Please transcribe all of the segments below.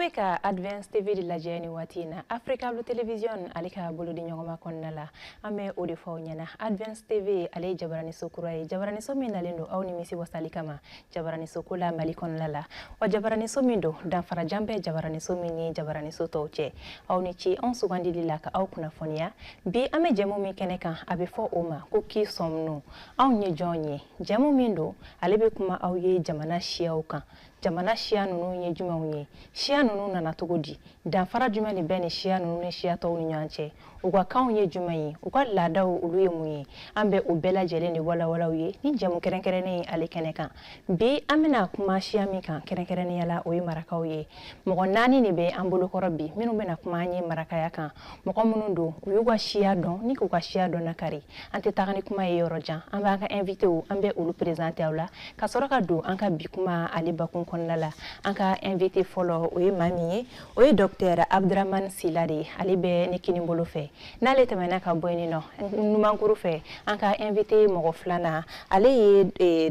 bɛ ka advance tv de lajɛ nin waati in na africable television ale ka bolodiɲɔgɔnma kɔnɔna la an bɛ o de fɔ aw ɲɛna advance tv ale ye jabaraniso kura ye jabaraniso min nalen don aw nimisi wasali kama jabaraniso ko la mali kɔnɔna la wa jabaraniso min don danfarajan bɛ jabaraniso min ni jabaraniso tɔw cɛ aw ni ce anw sugandili la ka aw kunnafoniya bi an bɛ jɛmu min kɛnɛ kan a bɛ fɔ o ma ko qui sommes-nous anw ye jɔn ye jɛmu min don ale bɛ kuma aw ye jamana siyaw kan jamana siya ninnu ye jumɛnw ye siya ninnu nana cogo di danfara jumɛn de bɛ nin siya ninnu ni siya tɔw ni ɲɔgɔn cɛ u ka kanw ye jumɛn ye u ka laadaw olu ye mun ye an bɛ o bɛɛ lajɛlen de walawala aw ye nin jɛmu kɛrɛnkɛrɛnnen in ale kɛnɛ kan bi an bɛna kuma siya min kan kɛrɛnkɛrɛnnenya la o ye marakaw ye mɔgɔ naani de bɛ an bolokɔrɔ bi minnu bɛna kuma an ye marakaya kan mɔgɔ minnu don u y'u ka siya dɔn ni k'u ka siya dɔnnakari an tɛ taga ni kuma ye yɔrɔ jan an b'an ka invitew an bɛ olu prezante aw la ka sɔrɔ ka don an ka bi kuma ale bakun kɔnɔna la an ka invite fɔlɔ o ye maa min ye o ye dɔktɛr abduraman sila de ye ale bɛ ne kini bolo fɛ n'ale tɛmɛna ka bɔ yen nɔ numankuru fɛ an ka invité mɔgɔ filanan ale ye eh,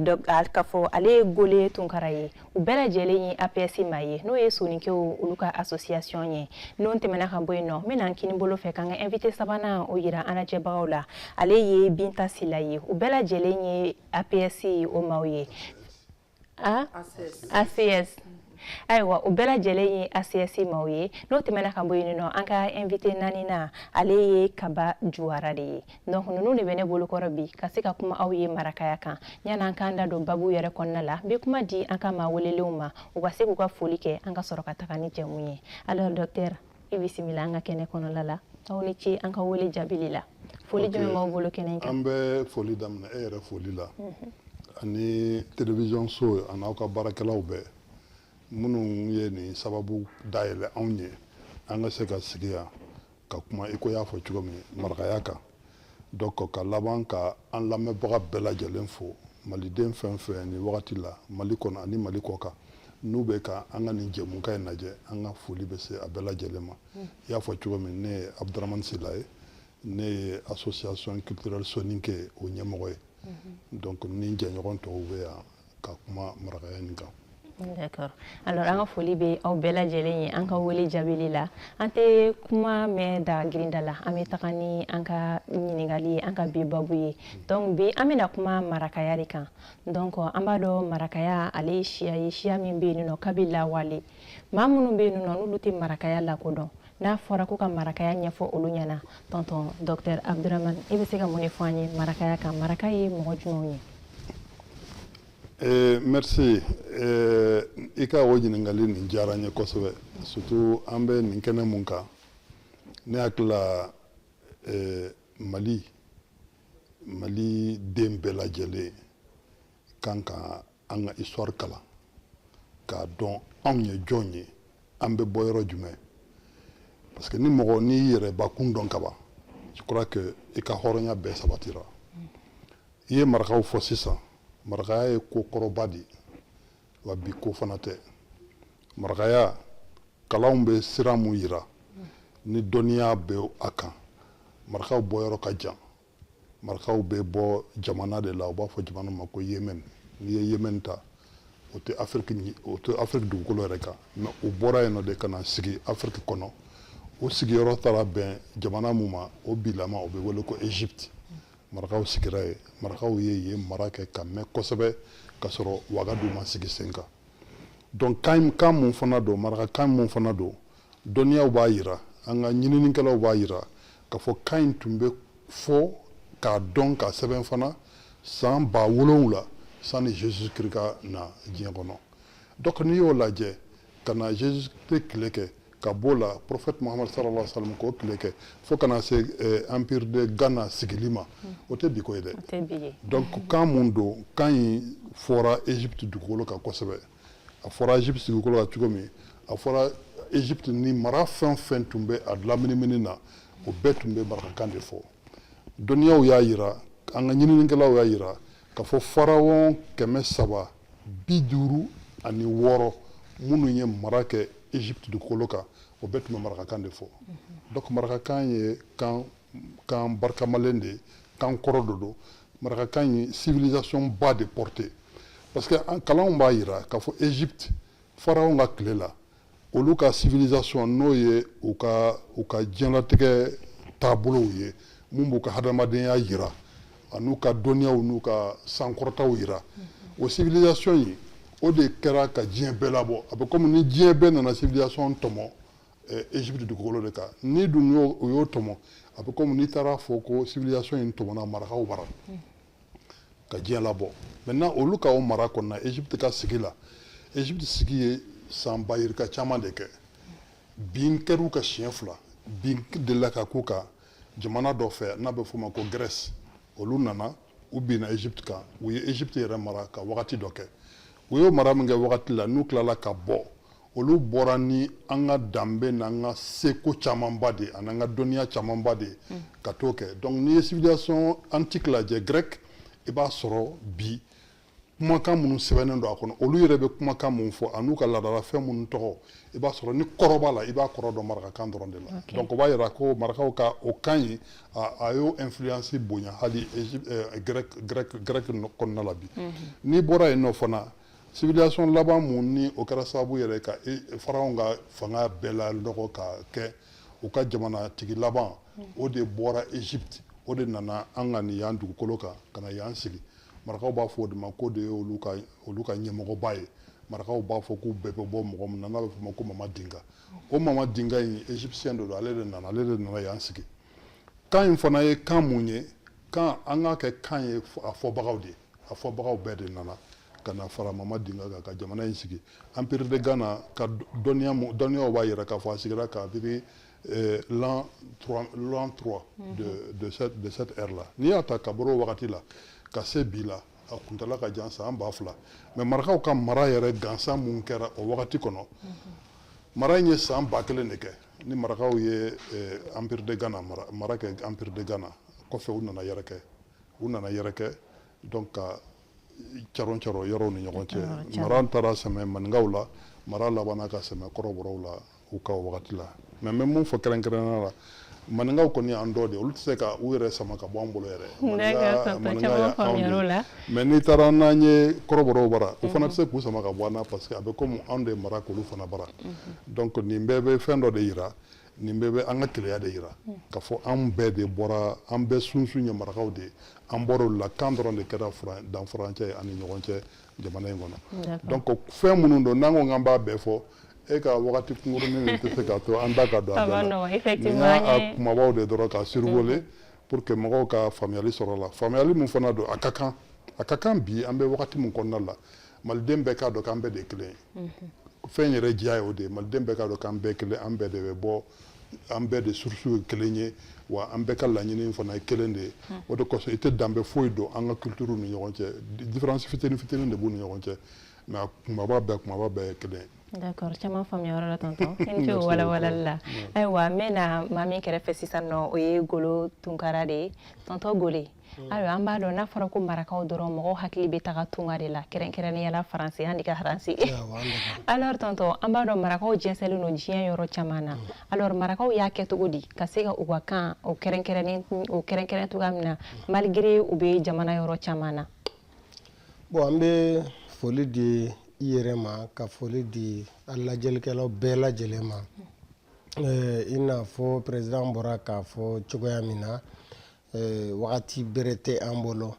ka fɔ ale ye gole tunkara ye u bɛɛ lajɛlen ye aps maaw ye n'o ye soninkew olu ka association ye n'o tɛmɛna ka bɔ yen nɔ n bɛna n kini bolo fɛ k'an ka invité sabanan o yira an lajɛbagaw la ale ye binta sila ye u bɛɛ lajɛlen ye aps o maaw ye a acs ayiwa u bɛɛ lajɛlen ye acs maaw ye n'o tɛmɛna ka bɔ yen nɔ an ka invite naaninan ale ye kaba juwara de ye donc ninnu de bɛ ne bolokɔrɔ bi ka se ka kuma aw ye marakaya kan yanni an k'an da don babu yɛrɛ kɔnɔna la n bɛ kuma di an ka maa welelenw ma u ka se k'u ka foli kɛ an ka sɔrɔ ka taga ni jɛmu ye alors docteur i bisimila an ka kɛnɛ kɔnɔla la aw ni ce an ka wele jaabili la foli jumɛn b'aw bolo kɛnɛ kan an bɛ foli daminɛ e yɛrɛ foli la mhm. ani télévision so ani aw ka baarakɛlaw bɛɛ minnu ye nin sababu dayɛlɛ anw ye an ka se ka sigi yan ka kuma i ko y'a fɔ cogo min marakaya kan Donc ka laban ka an lamɛnbaga bɛɛ lajɛlen fo maliden fɛn fɛn nin wagati la mali kɔnɔ ani mali kɔ kan n'u bɛ ka an ka nin jɛmukan in lajɛ an ka foli bɛ se a bɛɛ lajɛlen ma i y'a fɔ cogo min ne ye abduraman sila ye ne ye association culturelle soninke o ɲɛmɔgɔ ye donc ne jɛɲɔgɔn tɔw bɛ yan ka kuma marakaya nin kan D'accord. Alors an ka foli bɛ aw bɛɛ lajɛlen ye an ka wele jaabili la an tɛ kuma mɛn da girinda la an bɛ taga ni an ka ɲininkali ye an ka bi babu ye donc bi an bɛna kuma marakaya de kan donc an b'a dɔn marakaya ale ye siya ye siya min bɛ yen nɔ kabi lawale maa minnu bɛ yen nɔ n'olu tɛ marakaya lakodɔn n'a fɔra ko ka marakaya ɲɛfɔ olu ɲɛna tonton docteur abduraman i bɛ se ka mun de fɔ an ye marakaya kan maraka ye mɔgɔ jumɛnw ye eh, merci eh, i ka o ɲininkali nin diyara n ye kosɛbɛ surtout an bɛ nin kɛnɛ mun kan ne hakili la eh, mali mali den bɛɛ lajɛlen kan ka an ka histoire kalan k'a dɔn anw ye jɔn ye an bɛ bɔ yɔrɔ jumɛn parce que ni mɔgɔ n'i y'i yɛrɛ bakun dɔn kaban je crois que i ka hɔrɔnya bɛɛ sabatira i ye marakaw fɔ sisan marakaya ye ko kɔrɔba de ye wa bi ko fana tɛ marakaya kalanw bɛ sira mun yira ni dɔnniya bɛ a kan marakaw bɔyɔrɔ ka jan marakaw bɛ bɔ jamana de la u b'a fɔ jamana min ma ko yemen n'i ye yemen ta o tɛ o tɛ afiriki dugukolo yɛrɛ kan mais u bɔra yen nɔ de ka na sigi afiriki kɔnɔ u sigiyɔrɔ taara bɛn jamana min ma o bilama o bɛ wele ko egypte marakaw sigira yen marakaw ye yen mara kɛ ka mɛn kosɛbɛ ka sɔrɔ wagadu ma sigi sen kan donc kan mun fana don marakakan mun fana don dɔnniyaw b'a yira an ka ɲininikɛlaw b'a yira k'a fɔ kan in tun bɛ fɔ k'a dɔn k'a sɛbɛn fana san ba wolonwula sanni jesus christ ka na diɲɛ kɔnɔ donc n'i y'o lajɛ ka na jesus christ tile kɛ ka b'o la prophète muhammad sallallahu alaihi wasallam k'o tile kɛ fo ka na se eh, empire de ghana sigili ma hmm. o tɛ bi ko ye dɛ donc kan mun don kan in fɔra egypte dugukolo kan kosɛbɛ a fɔra egypte dugukolo kan cogo min a fɔra egypte ni mara fɛn o fɛn tun bɛ a laminimini na o bɛɛ tun bɛ marakakan de fɔ dɔnniyaw y'a yira an ka ɲininikɛlaw y'a yira k'a fɔ pharaon kɛmɛ saba bi duuru ani wɔɔrɔ minnu ye mara kɛ egypte dugukolo kan o bɛɛ tun bɛ marakakan de fɔ donc marakakan ye kan kan barikamalen de kan kɔrɔ dɔ don marakakan ye civilisation ba de porté parce que an kalanw b'a yira k'a fɔ egypte pharaonw ka tile la olu ka civilisation n'o ye u ka u ka diɲɛlatigɛ taabolow ye mun b'u ka hadamadenya yira an'u ka dɔnniyaw n'u ka sankɔrɔtaw yira o civilisation in o de kɛra ka diɲɛ bɛɛ labɔ a bɛ komi ni diɲɛ bɛɛ nana civilisation tɔmɔ Egypte eh, dugukolo de kan n'i dun y'o o y'o tɔmɔ a bɛ komi n'i taara fɔ ko civilisation in tɔmɔna marakaw bara hmm. ka diɲɛ labɔ maintenant olu ka o mara kɔnɔna Egypte ka sigi la Egypte sigi ye san ba yirika caman de kɛ bin kɛr'u kan siɲɛ fila bin delila ka k'u kan jamana dɔ fɛ n'a bɛ f'o ma ko Grèce olu nana u binna egypte kan u ye egypte yɛrɛ mara ka wagati dɔ kɛ u y'o mara min kɛ wagati la n'u tilala ka bɔ olu bɔra ni an ka danbe n'an ka seko camanba de an'an ka dɔnniya camanba de mm. ka t'o kɛ donc n'i ye civilisation antique lajɛ grec i b'a sɔrɔ bi kumakan minnu sɛbɛnnen don a kɔnɔ olu yɛrɛ bɛ kumakan minnu fɔ an'u ka laadalafɛn minnu tɔgɔ i b'a sɔrɔ ni kɔrɔ b'a la i b'a kɔrɔ dɔn marakakan dɔrɔn de la donc o b'a yira ko marakaw ka o kan in a y'o influence bonya hali eh, grɛk kɔnɔna la bi mhm. n'i bɔra yen nɔ fana civilisation laban mun ni o kɛra sababu yɛrɛ ka e, pharaon ka fanga bɛɛ lanɔgɔ ka kɛ u ka jamanatigi laban mhm. o de bɔra egypte o de nana an ka nin yan dugukolo kan ka na yan sigi marakaw b'a fɔ o de ma k'o de ye olu ka olu ka ɲɛmɔgɔba ye marakaw b'a fɔ k'u bɛɛ bɛ bɔ mɔgɔ min na n'a bɛ f'o ma ko mama dinga o mama dinga in égyptien de don ale de nana ale de nana yan sigi kan in fana ye kan mun ye kan an k'a kɛ kan ye a fɔbagaw de ye a fɔbagaw bɛɛ de nana ka na fara mama dinga kan ka jamana in sigi empire de ghana ka dɔnniya dɔnniyaw b'a yira k'a fɔ a sigira kabiri euh, l'an 3, l'an 3 mm -hmm. de, mhm. de, cette, de cette ère-là. N'i y'a ta ka bɔ o wagati la, ka se bi la, a kuntala ka jan san ba fila mais marakaw ka mara yɛrɛ gansan mun kɛra o wagati kɔnɔ mm -hmm. mara in ye san ba kelen de kɛ ni marakaw ye eh, empire de ghana mara, mara kɛ empire de ghana kɔfɛ u nana yɛrɛkɛ u nana yɛrɛkɛ donc ka caron caro yɔrɔw ni ɲɔgɔn cɛ mara taara sɛmɛ maninkaw la mara labanna ka sɛmɛ kɔrɔbɔrɔw la u ka wagati la mais n bɛ mun fɔ kɛrɛnkɛrɛnnenya la maninkaw kɔni y'an dɔ de olu tɛ se ka u yɛrɛ sama ka bɔ an bolo yɛrɛ maninka y'anw de mais n'i taara n'an ye kɔrɔbɔrɔw bara u fana tɛ se k'u sama ka bɔ an na parce que a bɛ komi anw de mara k'olu fana bara donc nin bɛɛ bɛ fɛn dɔ de yira nin bɛɛ bɛ an ka kelenya de yira ka fɔ an bɛɛ de bɔra an bɛɛ sunsun ye marakaw de ye an bɔra olu la kan dɔrɔn de kɛra danfarancɛ ye an ni ɲɔgɔn cɛ jamana in kɔnɔ donc fɛn minnu don n'an ko k'an b'a bɛɛ fɔ e ka wagati kunkurunin in tɛ se k'a to an da ka don a bɛɛ la nin y'a kumabaw de dɔrɔn ka survoler pour que mɔgɔw ka faamuyali sɔrɔ a la faamuyali min fana don a ka kan a ka kan bi an bɛ wagati min kɔnɔna la maliden bɛɛ k'a dɔn k'an bɛɛ de ye kelen ye fɛn yɛrɛ diya ye o de ye maliden bɛɛ k'a dɔn k'an bɛɛ kelen an bɛɛ de bɛ bɔ an bɛɛ de source ye kelen ye wa an bɛɛ ka laɲini fana ye kelen de ye hmm. o de kosɔn i tɛ danbe foyi don an ka culture ni ɲɔgɔn cɛ différence fitini fitini de b'u ni ɲɔgɔn cɛ mais a kumaba bɛɛ kumaba bɛɛ ye kelen ye d'accord caman faamuya yɔrɔ la tonton i ni ce o walawalali la ayiwa n bɛ na maa min kɛrɛfɛ sisan nɔ o ye gole tunkara de ye tonton gole hmm. ayiwa an b'a dɔn n'a fɔra ko marakaw dɔrɔn mɔgɔw hakili bɛ taga tunga de la kɛrɛnkɛrɛnnenya la faransi an daga faransi alors tonton an b'a dɔn marakaw jɛnsɛnlen don diɲɛ yɔrɔ caman na hmm. alors marakaw y'a kɛ cogo di ka se ka u ka kan o kɛrɛnkɛrɛnnen o kɛrɛnkɛrɛn cogoya min na hmm. malgré u bɛ jamana yɔrɔ caman na bon an bɛ foli di i yɛrɛ ma ka foli di a lajɛlikɛlaw bɛɛ lajɛlen ma i n'a fɔ président bɔra k'a fɔ cogoya min na Eh, wagati bere tɛ an bolo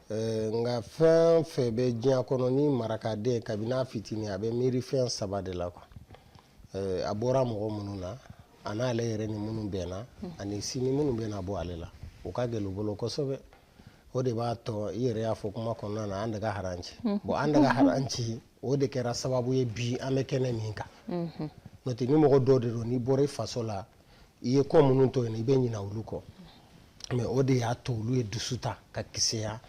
eh, nka fɛn fɛn bɛ diɲɛ kɔnɔ ni marakaden kabini a fitini a bɛ miiri fɛn saba de la quoi a bɔra mɔgɔ minnu na a n'ale yɛrɛ ni minnu bɛnna ani sini minnu bɛna bɔ ale la o ka gɛlɛn u bolo kosɛbɛ o de b'a to i yɛrɛ y'a fɔ kuma kɔnɔna na an daga haranci mhm. bon an daga haranci o de kɛra sababu ye bi an bɛ kɛnɛ min kan mhm. n'o tɛ ni mɔgɔ dɔ de don n'i bɔra i faso la i ye ko minnu to yen i bɛ ɲina olu kɔ mais o de y'a to olu ye dusu ta ka kisɛya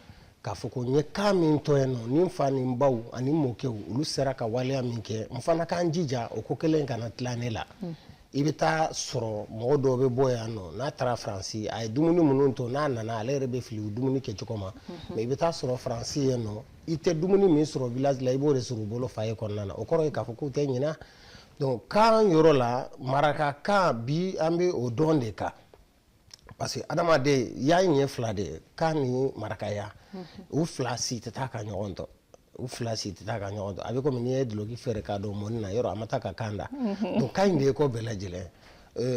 k'a fɔ ko n ye kan min to yen nɔ ni n fa ni n baw ani n mɔkɛw olu sera ka waleya min kɛ n fana ka n jija o ko kelen kana tila ne la i bɛ taa sɔrɔ mɔgɔ dɔw bɛ bɔ yan nɔ n'a taara faransi a ye dumuni minnu to n'a nana ale yɛrɛ bɛ fili u dumuni kɛcogo ma mais i bɛ taa sɔrɔ faransi yen nɔ i tɛ dumuni min sɔrɔ village la i b'o de sɔrɔ u bolo foyer kɔnɔna na o kɔrɔ ye k'a fɔ k'u tɛ ɲina donc kan yɔrɔ la marakakan bi an bɛ o don de kan parce que adamadenya ɲɛ fila de ye kan ni marakaya u fila si tɛ taa ka ɲɔgɔn to u fila si tɛ taa ka ɲɔgɔn to a bɛ komi n'i ye duloki feere k'a don mɔni na yɔrɔ a ma taa ka kan da donc kan in de ye ko bɛɛ lajɛlen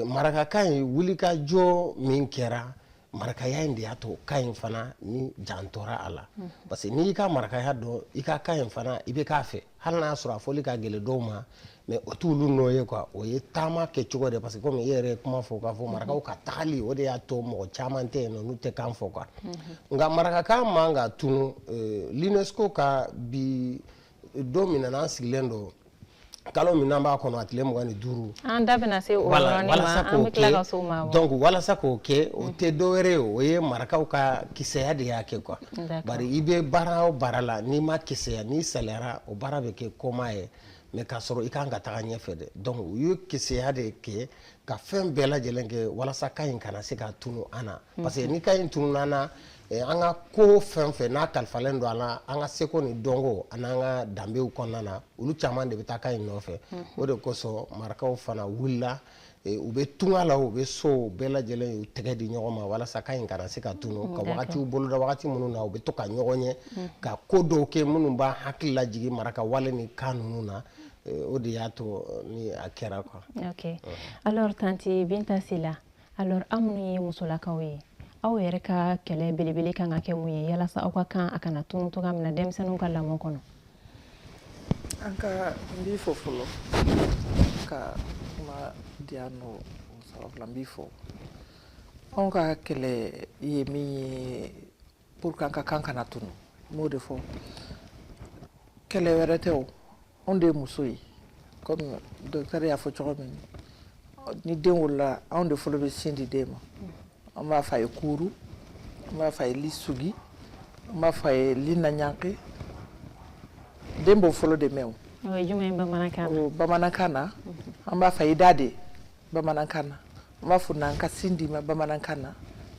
marakakan in wulikajɔ min kɛra marakaya in de y'a to kan in fana ni jantora a la mhm. parce que n'i y'i ka marakaya dɔn i ka kan in fana i bɛ k'a fɛ hali n'a y'a sɔrɔ a fɔli ka gɛlɛn dɔw ma mais o t'olu nɔ ye quoi o ye taama kɛcogo de parce que komi i yɛrɛ ye kuma fɔ k'a fɔ mhm. marakaw ka tagali o de y'a to mɔgɔ caman tɛ yen nɔ n'u tɛ kan fɔ quoi mhm. nka marakakan man ka tunu euh, l'UNESCO ka bi don min na n'an sigilen don kalo min n'an b'a kɔnɔ a tile mugan ni duuru an da bɛna se o yɔrɔnin ma an bɛ tila ka se o ma donc walasa k'o kɛ o tɛ dɔwɛrɛ ye o ye marakaw ka kisɛya de y'a kɛ quoi bari i bɛ baara o baara la n'i ma kisɛya n'i saliyara o baara bɛ kɛ kɔma ye mais k'a sɔrɔ i kan ka taga ɲɛfɛ dɛ donc u ye kisɛya de kɛ ka fɛn bɛɛ lajɛlen kɛ walasa kan in kana se ka tunu an na parce que ni kan in tununa an na an ka ko fɛn o fɛn n'a kalifalen don a la an ka seko ni dɔnko an'an ka danbew kɔnɔna na olu caman de bɛ taa kan in nɔfɛ o de kosɔn marakaw fana wulila u bɛ tunga la u bɛ so bɛɛ lajɛlen y'u tɛgɛ di ɲɔgɔn ma walasa kan in kana se ka tunu ka wagatiw boloda wagati minnu na u bɛ to ka ɲɔgɔn ye ka ko dɔw kɛ minnu b'a hakili lajigin maraka wale ni kan ninnu na o de y'a to ni a kɛra kan alors tanti binta sila alors aw minnu ye musolakaw ye aw yɛrɛ ka kɛlɛ belebele kan ka kɛ mun ye yalasa aw ka kan a kana tunu cogoya min na denmisɛnninw ka lamɔ kɔnɔ an ka n b'i fo fɔlɔ ka kuma di yan nɔ sababu la n b'i fo anw ka kɛlɛ ye min ye pour que an ka kan kana tunu n b'o de fɔ kɛlɛ wɛrɛ tɛ o anw de ye muso ye comme docteur y'a fɔ cogo min ni den wolola anw de fɔlɔ bɛ sin di den ma an b'a fɔ a ye kuuru an b'a fɔ a ye li sugi an b'a fɔ a ye li naɲanke den b'o fɔlɔ de mɛn o bamanankan na an b'a fɔ a ye da de bamanankan na an b'a fɔ n'an ka sin d'i ma bamanankan na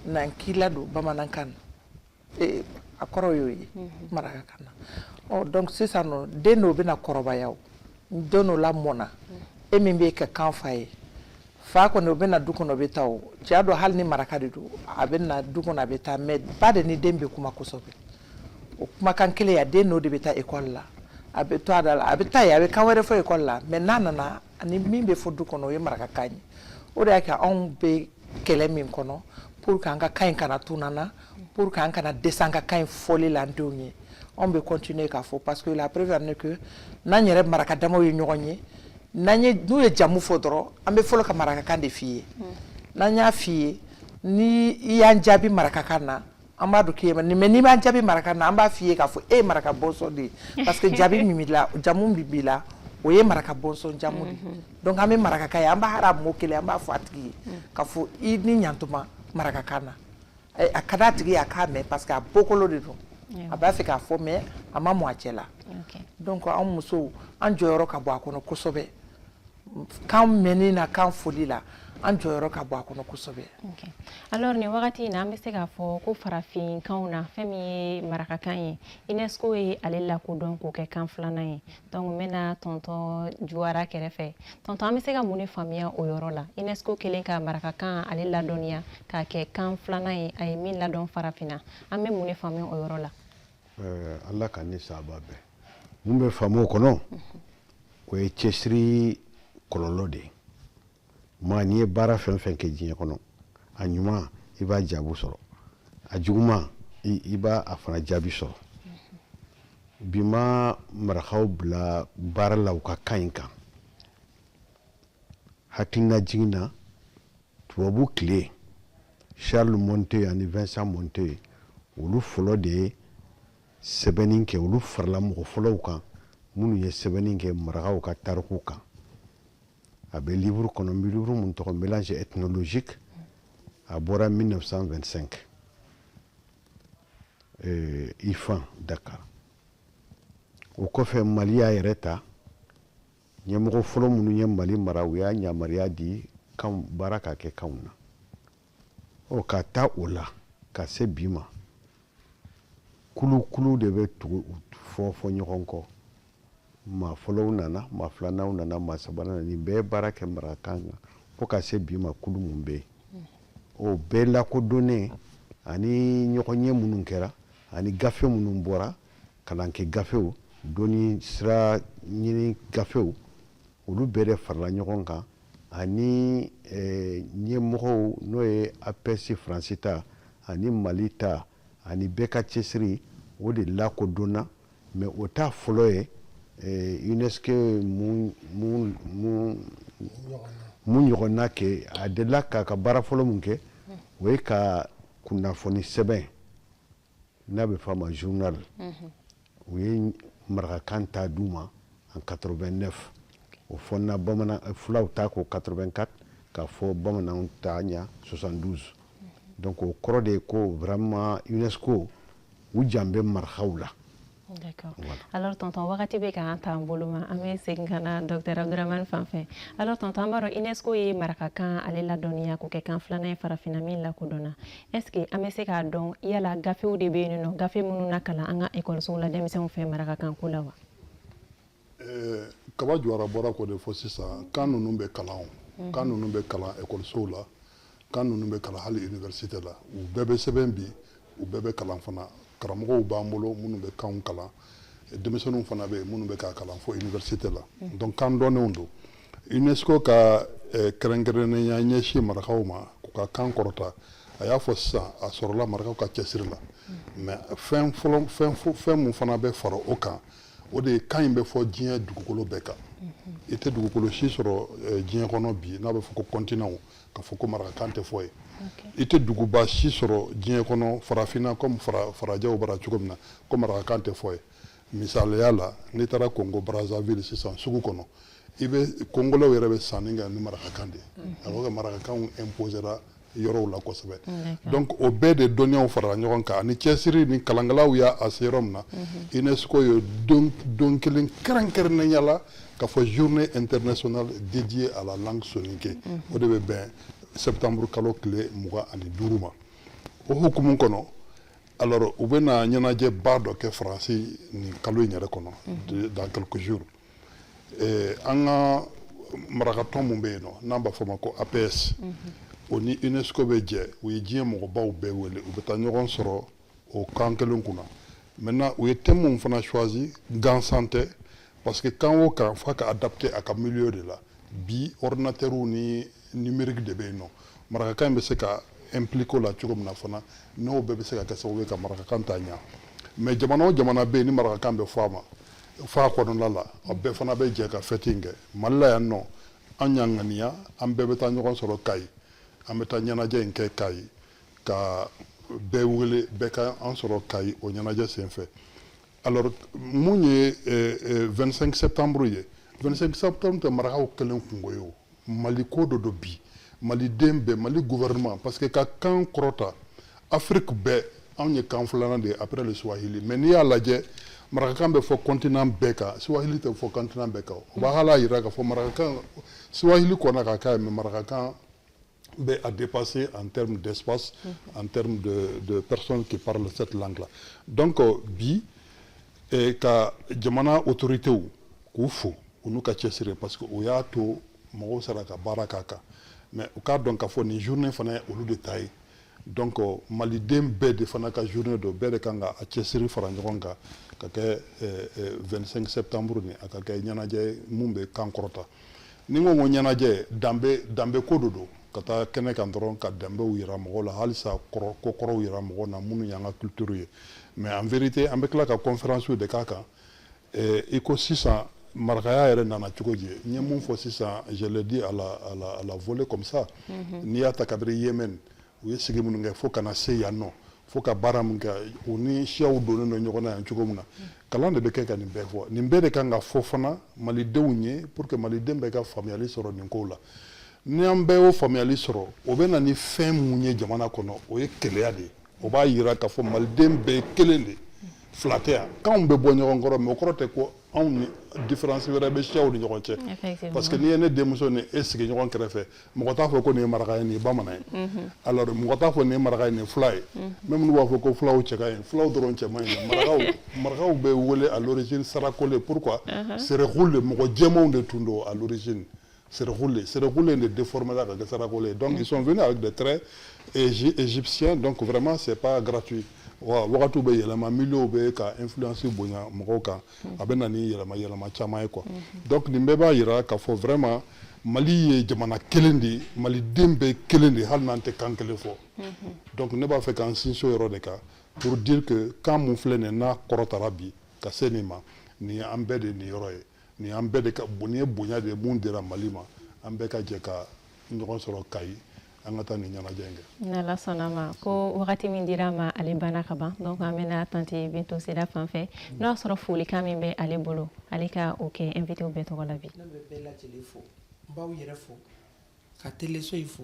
n'an k'i ladon bamanankan na ee a kɔrɔ y'o ye marakakan na ɔ donc sisan nɔ den dɔw bɛna kɔrɔbaya o den dɔ lamɔna e min bɛ kɛ kan fa ye fa kɔni o bɛ na du kɔnɔ o bɛ taa o cɛya don hali ni maraka de don a bɛ na du kɔnɔ a bɛ taa mais ba de ni den bɛ kuma kosɛbɛ o kumakan kelen a den n'o de bɛ taa école la a bɛ to a da la a bɛ taa yen a bɛ kan wɛrɛ fɔ école la mais n'a nana ani min bɛ fɔ du kɔnɔ o ye marakakan ye o de y'a kɛ anw bɛ kɛlɛ min kɔnɔ pour que an ka kan in kana tunu an na pour que an kana dɛsɛ an ka kan in fɔli la an denw ye anw bɛ continuer k'a fɔ parce que la preuve en est que n'an yɛrɛ maraka damaw ye ɲɔgɔn ye n'u ye jamu fɔ dɔrɔn an bɛ fɔlɔ ka marakakan de f'i ye n'an y'a f'i ye ni i y'an jaabi marakakan na an b'a dɔn k'e ye mais n'i m'an jaabi marakakan na an b'a f'i ye k'a fɔ e ye maraka bɔnsɔn de ye parce que jaabi min b'i la jamu min b'i la o ye maraka bɔnsɔn jamu de mhm. donc an bɛ marakakan ye an b'a hara mot kelen an b'a fɔ a tigi ye mm. k'a fɔ i ni ɲantuma marakakan na eh, a ka d'a tigi ye a k'a mɛn parce que a bɔkolo de don a b'a fɛ k'a fɔ mais a ma mɔ a cɛ la donc an musow an jɔyɔrɔ ka bon a kɔnɔ kosɛbɛ kan mɛnni na kan fɔli la an jɔyɔrɔ ka bon a kɔnɔ kosɛbɛ alors nin wagati in na an bɛ se k'a fɔ ko farafinkanw na fɛn min ye marakakan ye unesco ye ale lakodɔn k'o kɛ kan filanan ye donc n bɛna tɔntɔn juwara kɛrɛfɛ tɔntɔn an bɛ se ka mun de faamuya o yɔrɔ la unesco kɛlen ka marakakan ale ladɔnniya k'a kɛ kan filanan ye a ye min ladɔn farafinna an bɛ mun de faamuya o yɔrɔ la euh, ala ka ni saba bɛɛ mun bɛ faamu o kɔnɔ o ye cɛsiri kɔlɔlɔ de ye maa n'i ye baara fɛn fɛn kɛ diɲɛ kɔnɔ a ɲuman i b'a jaabu sɔrɔ a juguman i b'a a fana jaabi sɔrɔ bi ma marakaw bila baara la u ka kan in kan hakilina jigin na tubabu tile charles monteil ani vincent monteil olu fɔlɔ de ye sɛbɛnni kɛ olu farala mɔgɔ fɔlɔw kan minnu ye sɛbɛnni kɛ marakaw ka tariku kan a bɛ livre kɔnɔ livre min tɔgɔ mélanges ethnologiques a bɔra 1925 euh, ifan dakar o kɔfɛ mali y'a yɛrɛ ta ɲɛmɔgɔ fɔlɔ minnu ye mali mara u y'a yamaruya di kanw baara ka kɛ kanw na ɔ ka taa o la ka se bi ma kulukulu de bɛ tugu fɔfɔ ɲɔgɔn kɔ maa fɔlɔw nana maa filananw nana maa sabanan nin bɛɛ baara kɛ marakakan kan fo ka se bi ma kulu mun bɛ yen o bɛɛ lakodɔnnen ani ɲɔgɔnye minnu kɛra ani gafe minnu bɔra kalankɛ gafew dɔnni sira ɲini gafew olu bɛɛ de farala ɲɔgɔn kan ani eh, ɲɛmɔgɔw n'o ye APS faransi ta ani mali ta ani bɛɛ ka cɛsiri o de lakodɔnna mais o t'a fɔlɔ ye eh, unesco mun ɲɔgɔnna kɛ a delila k'a ka baara fɔlɔ mun kɛ o ye ka kunnafoni sɛbɛn n'a bɛ fɔ a ma journal u ye marakakan ta d'u ma en 89 o fɔnna bamanan fulaw ta ko 84 k'a fɔ bamananw ta ɲa 72 donc o kɔrɔ de ye ko vraiment unesco u jan bɛ marakaw la D'accord. Voilà. Alors tonton wagati bɛ k'an t'an bolo ma an bɛ segin ka na docteur Abdramane fan fɛ alors tonton an b'a dɔn UNESCO ye marakakan ale ladɔnniya k'o kɛ kan filanan ye farafinna min lakodɔnna est-ce que an bɛ se k'a dɔn yala gafew de bɛ yen nɔ gafe minnu na kalan an ka ekɔlisow la denmisɛnw fɛ marakakan ko la wa eh, kaba jawara bɔra k'o de fɔ sisan kan ninnu bɛ kalan mhm. kan ninnu bɛ kalan ekɔlisow la kan ninnu bɛ kalan hali université la u bɛɛ bɛ sɛbɛn bi u bɛɛ bɛ kalan fana karamɔgɔw b'an bolo minnu bɛ kanw kalan denmisɛnninw fana bɛ yen minnu bɛ k'a kalan fo université la mm. donc kan dɔnnenw don UNESCO ka eh, kɛrɛnkɛrɛnnenya ɲɛsin marakaw ma k'u ka kan kɔrɔta a y'a fɔ sisan a sɔrɔla marakaw ka cɛsiri la mm. mais fɛn fɛn mun fana bɛ fara o kan o de ye kan in bɛ fɔ diɲɛ dugukolo bɛɛ kan mm-hmm. i tɛ dugukolo si sɔrɔ eh, diɲɛ kɔnɔ bi n'a bɛ fɔ ko continentw ka fɔ ko marakakan tɛ fɔ ye i tɛ duguba si sɔrɔ diɲɛ kɔnɔ farafinna comme farajɛw bara cogo min na ko marakakan tɛ fɔ ye misaliya la n'i taara kongo brazzaville sisan sugu kɔnɔ i bɛ kongolɛw yɛrɛ bɛ sanni kɛ ni marakakan de ye alors que marakakanw imposera yɔrɔw la kosɛbɛ donc o bɛɛ de dɔnniyaw farala ɲɔgɔn kan ani cɛsiri ni kalankɛlaw y'a se yɔrɔ min na unesco ye don kelen kɛrɛnkɛrɛnnenya la K'a fɔ journée internationale dédiée à la langue soninké o de bɛ bɛn septembre kalo tile 25 ma o hukumu kɔnɔ alors u bɛna ɲɛnajɛba dɔ kɛ faransi nin kalo in yɛrɛ kɔnɔ dans quelques jours eh, an ka marakatɔn min bɛ yen nɔ n'an b'a fɔ ma ko APS o ni UNESCO bɛ jɛ u ye diɲɛ mɔgɔbaw bɛɛ wele u bɛ taa ɲɔgɔn sɔrɔ o kan kelen kunna maintenant u ye thème min fana choisi gansan tɛ parce que kan o kan f'a ka adapter a ka milieu de la bi ordinateur ni numérique de bɛ yen nɔ marakakan in bɛ se ka impliquer o la cogo min na fana n'o bɛɛ bɛ se ka kɛ sababu ye ka marakakan taa ɲa mais jamana o jamana bɛ yen ni marakakan bɛ fɔ a ma fɔ a kɔnɔna la a bɛɛ fana bɛ jɛ ka fɛti in kɛ mali la yan nɔ an y'an ŋaniya an bɛɛ bɛ taa ɲɔgɔn sɔrɔ kayi an bɛ taa ɲɛnajɛ in kɛ kayi ka bɛɛ wele bɛɛ ka an sɔrɔ kayi o ɲɛnajɛ senfɛ alors mun ye 25 septembre ye 25 septembre tɛ marakaw kelen kungo ye o mali ko de don bi maliden bɛɛ mali gouvernement parce que ka kan kɔrɔta afrique bɛɛ anw ye kan filanan de ye après le swahili mais n'i y'a lajɛ marakakan bɛ fɔ continent bɛɛ kan swahili tɛ fɔ continent bɛɛ kan o b'a hal'a yira k'a fɔ marakakan swahili kɔnna ka k'a ye mais marakakan bɛ a dépasser en termes d'espace, mm-hmm. en termes de, de, personnes qui parlent cette langue-là. Donc, euh, bi, eh, ka jamana autoritéw k'u fo u n'u ka cɛsiri parce que o y'a to mɔgɔw sera ka baara k'a kan mais u k'a dɔn k'a fɔ nin journée fana ye olu de ta ye donc maliden bɛɛ de fana ka journée don bɛɛ de kan ka a cɛsiri fara ɲɔgɔn kan ka kɛ 25 eh, eh, septembre nin a ka kɛ ɲɛnajɛ mun bɛ kan kɔrɔta ni n ko ko ɲɛnajɛ danbe danbe ko de don ka taa kɛnɛ kan dɔrɔn ka danbew yira mɔgɔw la halisa ko kɔrɔw yira mɔgɔw na minnu y'an ka culture ye mais en vérité an bɛ tila ka conférence de k'a kan Ee i ko sisan marakaya yɛrɛ nana cogo di n ye min fɔ sisan je l'ai dit à la volée comme ça n'i y'a ta kabiri yémen u ye sigi minnu kɛ fo ka na se yan nɔ fo ka baara min kɛ u ni siyaw donnen ɲɔgɔn na yan cogo min na kalan de bɛ kɛ ka nin bɛɛ fɔ nin bɛɛ de kan ka fɔ fana malidenw ye pour que maliden bɛɛ ka faamuyali sɔrɔ nin kow la ni an bɛɛ y'o faamuyali sɔrɔ o bɛ na ni fɛn min ye jamana kɔnɔ o ye kelenya de ye o b'a jira k'a fɔ maliden bɛɛ ye kelen de fila tɛ yan kanw bɛ bɔ ɲɔgɔn kɔrɔ mais o kɔrɔ tɛ ko anw ni différence wɛrɛ bɛ siyaw ni ɲɔgɔn cɛ parce que n'i ye ne denmuso ni e sigi ɲɔgɔn kɛrɛfɛ mɔgɔ t'a fɔ ko nin ye maraka ye nin ye bamanan ye mhm. alors mɔgɔ t'a fɔ nin ye maraka ye nin ye fula ye mhm. même n'u b'a fɔ ko fulaw cɛ ka ɲi fulaw dɔrɔn cɛ man ɲi marakaw marakaw bɛ wele à l'origine sarakole pourquoi mhm. serekule mɔgɔ jɛmanw de tun don à l'origine Serekule Serekule de deformera ka kɛ Sarakole ye donc ils sont venus avec des traits égyptiens donc vraiment c'est pas gratuit wa wagatiw bɛ yɛlɛma milieu bɛ ka influence bonya mɔgɔw kan a bɛ na ni yɛlɛma yɛlɛma caman ye quoi mhm. donc nin bɛɛ b'a jira k'a fɔ vraiment Mali ye jamana kelen de ye maliden bɛɛ kelen de ye hali n'an tɛ kan kelen fɔ mhm. donc ne b'a fɛ k'an sinsin o yɔrɔ de kan pour dire que kan mun filɛ nin ye n'a kɔrɔtara bi ka se nin ma nin ye an bɛɛ de niyɔrɔ ye nin an bɛɛ de ka nin ye bonya de ye mun dira mali ma an bɛɛ ka jɛ ka ɲɔgɔn sɔrɔ kayi an ka taa nin ɲɛnajɛ in kɛ n'ala sɔnna ma ko wagati min dira an ma ale banna ka ban donc an bɛna tante bintu sira fan fɛ n'o y'a sɔrɔ folikan min bɛ ale bolo ale ka o kɛ invitew bɛɛ tɔgɔ la bi ne bɛ bɛɛ lajɛlen fo n b'aw yɛrɛ fo ka teleso in fo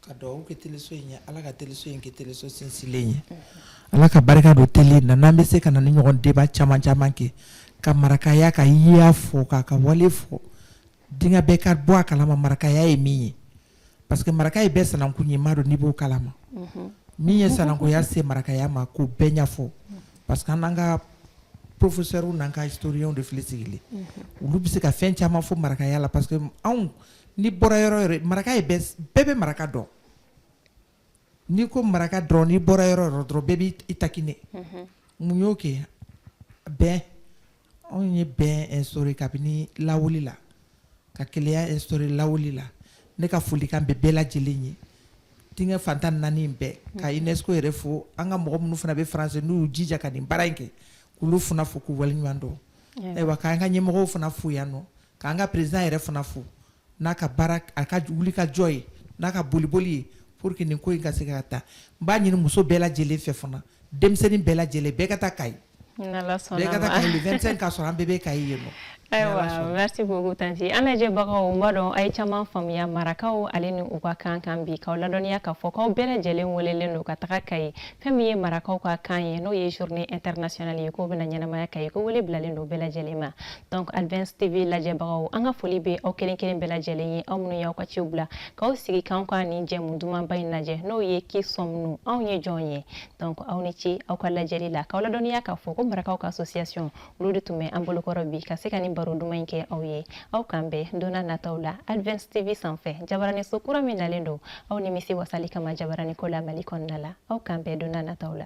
ka dugawu kɛ teleso in ye ala ka teleso in kɛ teleso sinsinlen ye ala ka barika don tele na n'an bɛ se ka na nin ɲɔgɔn débat caman caman kɛ ka marakaya ka yyaa fɔ k'a ka wale fɔ diɲɛ bɛɛ ka bɔ a kala ma marakaya ye min ye parce que maraka ye bɛɛ sinankun ye ma don n'i b'o kala ma min ye sinankunya se marakaya ma k'o bɛɛ ɲɛfɔ parce que an n'an ka professeurs n'an ka historiens de filɛ sigilen olu bɛ se ka fɛn caman fɔ marakaya la parce que anw n'i bɔra yɔrɔ yɔrɔ maraka ye bɛɛ bɛ maraka dɔn n'i ko maraka dɔrɔn n'i bɔra yɔrɔ yɔrɔ dɔrɔn bɛɛ b'i taquiner mun y'o kɛ bɛn anw ye bɛn sɔrɔ kabini lawale la ka kelenya sɔrɔ lawale la ne ka folikan bɛ bɛɛ lajɛlen ye diɲɛ fan tan ni naani bɛɛ ka UNESCO yɛrɛ fo an ka mɔgɔ minnu fana bɛ France n'u y'u jija ka nin baara in kɛ k'olu fana fo k'u waleɲuman dɔn ayiwa k'an ka ɲɛmɔgɔw fana fo yan nɔ k'an ka président yɛrɛ fana fo n'a ka baara a ka wuli ka jɔ ye n'a ka boliboli ye pour que nin ko in ka se ka taa n b'a ɲini muso bɛɛ lajɛlen fɛ fana denmisɛnnin bɛɛ lajɛlen bɛɛ ka taa kayi bɛɛ ka taa kayi le 25 k'a sɔrɔ an bɛɛ bɛ kayi yen nɔ ayiwa merci beaucoup tanti an lajɛbagaw n b'a dɔn a ye caman faamuya marakaw ale ni u ka kan kan bi k'aw ladɔnniya k'a fɔ k'aw bɛɛ lajɛlen welelen don ka taga kayi fɛn min ye marakaw ka kan ye n'o ye journée internationale ye k'o bɛna ɲɛnamaya kayi ko wele bilalen don bɛɛ lajɛlen ma donc advance tv lajɛbagaw an ka foli bɛ aw kelen kelen bɛɛ lajɛlen ye aw minnu y'aw ka ciw bila k'aw sigi k'anw ka nin jɛmu dumanba in lajɛ n'o ye qui sommes-nous anw ye jɔn ye donc aw ni ci aw ka lajɛli la k'aw ladɔnniya k'a fɔ ko marakaw ka association olu de tun bɛ an bolokɔrɔ bi ka se ka nin baro duman in kɛ aw ye aw k'an bɛn donna nataw la advance tv sanfɛ jabaraniso kura min nalen don aw nimisi wasali kama jabaraniko la mali kɔnɔna la aw k'an bɛn donna nataw la